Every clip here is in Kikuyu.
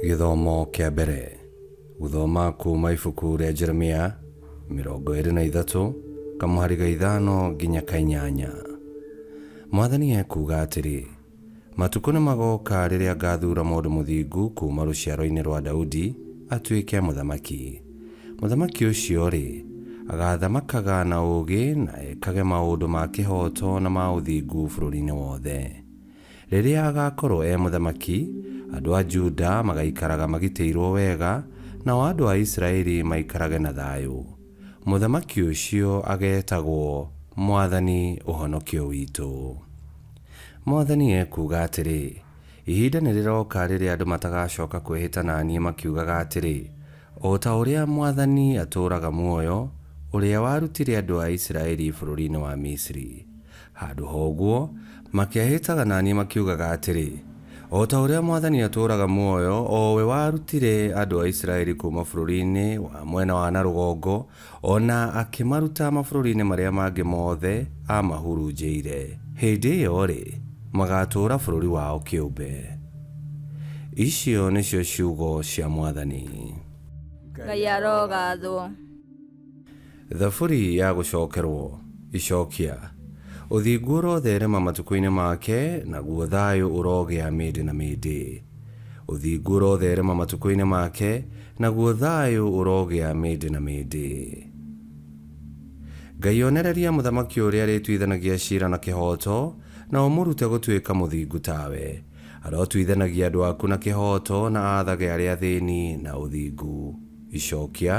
Gĩthomo kĩa mbere. Gũthoma kuuma ibuku rĩa Jeremia mĩrongo ĩrĩ na ithatũ kamũhari ga ithano nginya ka inyanya. Mwathani ekuuga atĩrĩ, Matukũ nĩmagooka rĩrĩa ngaathuura mũndũ mũthingu kuuma rũciaroinĩ rwa Daudi atuĩke mũthamaki. Mũthamaki ũcio-rĩ, agaathamakaga na ũũgĩ na ekage maũndũ ma kĩhooto na ma ũthingu bũrũriinĩ wothe. Rĩrĩa agaakorwo e mũthamaki, andũ a Juda magaikaraga magitĩirwo wega, nao andũ a Isiraeli maikarage na thaayũ. Mũthamaki ũcio ageetagwo Mwathani Ũhonokio Witũ. Mwathani ekuuga atĩrĩ, Ihinda nĩrĩroka rĩrĩa andũ matagacooka kwĩhĩta na niĩ makiugaga atĩrĩ, 'O ta ũrĩa Mwathani atũũraga muoyo, ũrĩa warutire andũ a Isiraeli bũrũriinĩ wa Misiri. Handũ ha ũguo, makehĩtaga na niĩ makiugaga atĩrĩ, 'O ta ũrĩa Mwathani atũũraga muoyo, o we warutire andũ a Isiraeli kuuma bũrũriinĩ wa mwena wa na rũgongo, O na akĩmaruta mabũrũri-inĩ marĩa mangĩ mothe aamahurunjĩire. Hĩndĩ ĩyo-rĩ, magaatũũra bũrũri wao kĩũmbe. Icio nĩcio ciugo cia Mwathani. Ngai arogaathwo. Thaburi ya gũcookerwo. Icookia. Ũthingu ũrotherema matukũ-inĩ make, naguo thayũ ũrogĩa mĩndĩ na mĩndĩ. Ũthingu ũrotherema matukũ-inĩ make, naguo thayũ ũrogĩa mĩndĩ na mĩndĩ. Ngai onereria mũthamaki ũrĩa arĩtuithanagia cira na kĩhooto, na ũmũrute gũtuĩka mũthingu tawe. Arotuithanagia andũ aku na kĩhooto na aathage arĩa athĩni na ũthingu. Icokia,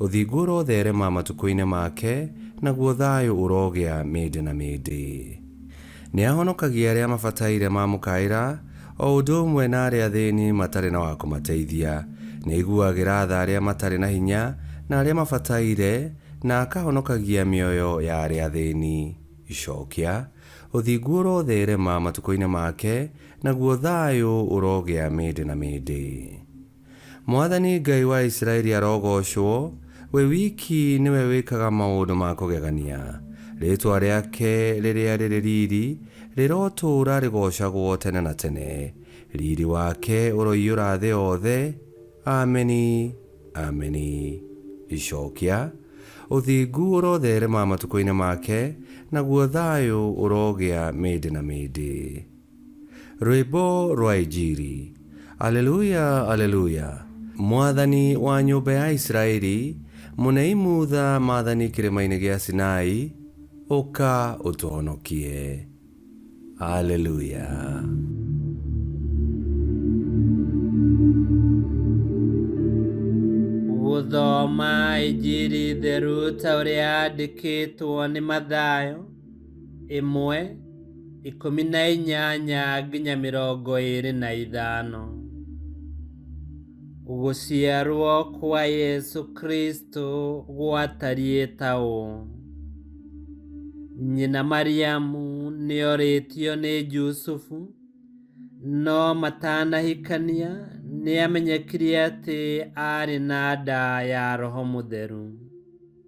Ũthingu ũrotherema matukũ-inĩ make, naguo thayũ ũrogĩa mĩndĩ na mĩndĩ. Nĩahonokagia arĩa mabataire mamũkaĩra, o ũndũ ũmwe na arĩa athĩĩni matarĩ na wa kũmateithia. Nĩaiguagĩra tha arĩa matarĩ na hinya na arĩa mabataire, na akahonokagia mĩoyo ya arĩa athĩĩni. Icookia, ũthingu ũrotheerema matukũinĩ make, naguo thaayũ ũrogĩa mĩĩndĩ na mĩĩndĩ. Mwathani Ngai wa Isiraeli arogoocwo, we wiki nĩwe wĩkaga maũndũ ma kũgegania. Rĩĩtwa rĩake rĩrĩa rĩrĩ riiri rĩrotũũra rĩgoocagwo tene na tene. Riiri wake ũroiyũra thĩ yothe. Ameni! Ameni! Icookia. Ũthingu ũrotheerema matukũinĩ make, naguo thaayũ ũrogĩa mĩndĩ na mĩndĩ. Rwĩmbo rwa Injiri. Aleluya! Aleluya! Mwathani wa nyũmba ya Isiraeli, mũnei mutha maathani kĩrĩma-inĩ gĩa Sinai, ũka ũtũhonokie. Aleluya! Gũthoma Injiri Theru ta ũrĩa yandĩkĩtwo nĩ Mathayo. ĩmwe, ikũmi na inyanya nginya mĩrongo ĩĩrĩ na ithano. Gũciarwo kwa Yesu Kristo gwatariĩ ta ũũ. Nyina Mariamu nĩorĩtio nĩ Jusufu, no matanahikania nĩamenyekire atĩ aarĩ na nda ya Roho Mũtheru.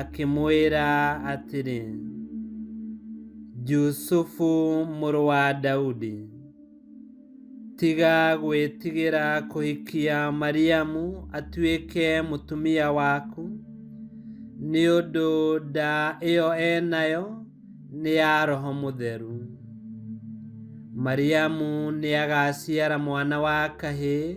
akĩmwĩra atĩrĩ, Jusufu mũrũ wa Daudi, tiga gwĩtigĩra kũhikia Mariamu atuĩke mũtumia waku, nĩ ũndũ nda ĩyo enayo nĩ ya Roho Mũtheru. Mariamu nĩagaciara mwana wa kahĩĩ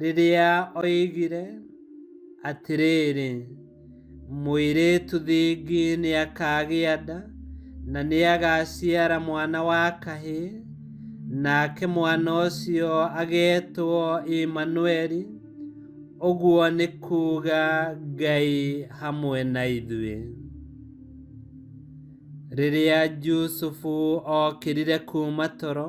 rĩrĩa oigire atĩrĩrĩ, mũirĩtu thingi nĩ akagĩa nda na nĩ agaciara mwana wa kahĩĩ, nake mwana ũcio agetwo Imanueli, ũguo nĩ kuuga Ngai hamwe na ithuĩ. Rĩrĩa Jusufu okĩrire kuuma toro,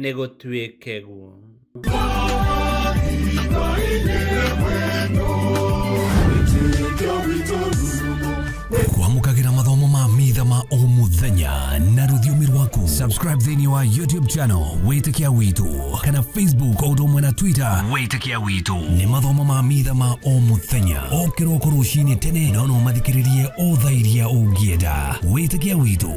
nĩ gũtuĩke guo kwamũkagĩra mathomo ma mitha ma o mũthenya na rũthiomi rwaku subscribe thĩinĩ wa youtube channel wĩtĩkia witũ kana facebook o ũndũ ũmwe na twitter wĩtĩkia witũ nĩ mathomo ma mitha ma o mũthenya o kĩroko rũcinĩ tene na no mathikĩrĩrie o thaa iria ũngĩenda wĩtĩkia witũ